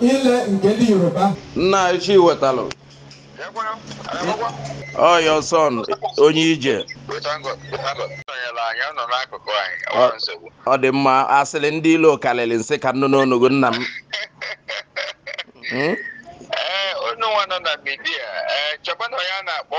ile nke ndị yoruba nna anyị Chiwetalụ ọ ya ọsọ onye ije ọ dị mma asịrị ndị ilo karịrị nsị ka nnụ unu anụgo nna m Hmm? ee eh, onye nwa nọ na midia ee eh, chọba na ya na-akpọ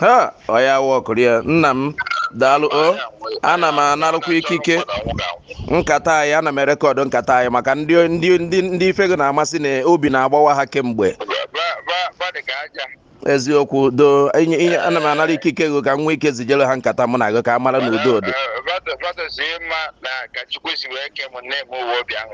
ha ọya Nwokorie nna m daalụ o ana m anarụkwa ikike nkata anyị ana m erekọdụ nkata anyị maka ndị ndị ndị ndị ife gị na-amasị na obi na-agbawa ha kemgbe eziokwu do inye inye ana m anara ikike gị ka m nwee ike zijere ha nkata mụ na gị ka ha mara na udo dị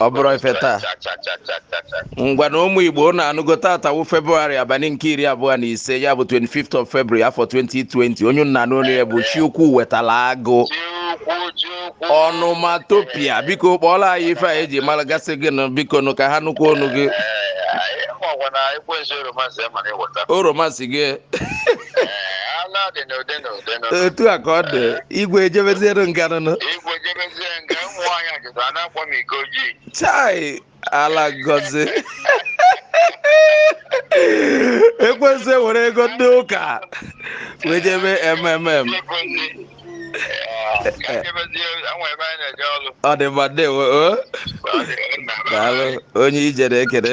ọ bụrụ ife taa ngwanụ ụmụ Igbo unu anụgo taata wụ February abalị nke iri abụọ na ise ya bụ 25th of February afọ 2020 onye unu na-anụ olu ya bụ Chukwuwetalụ Agụ onomatopoeia biko kpọọlụ anyị ife a eji mara gasị gị nụ biko nụ ka ha nụkwa ọnụ gị oromansi gị etu a ka ọ dị igwe ejebeziere nga nụnụ chai ala ngozi ekwensu ewere ego ndị ụka wee jebe mmm ọ dị mma ndewo daalụ onye ije na-ekene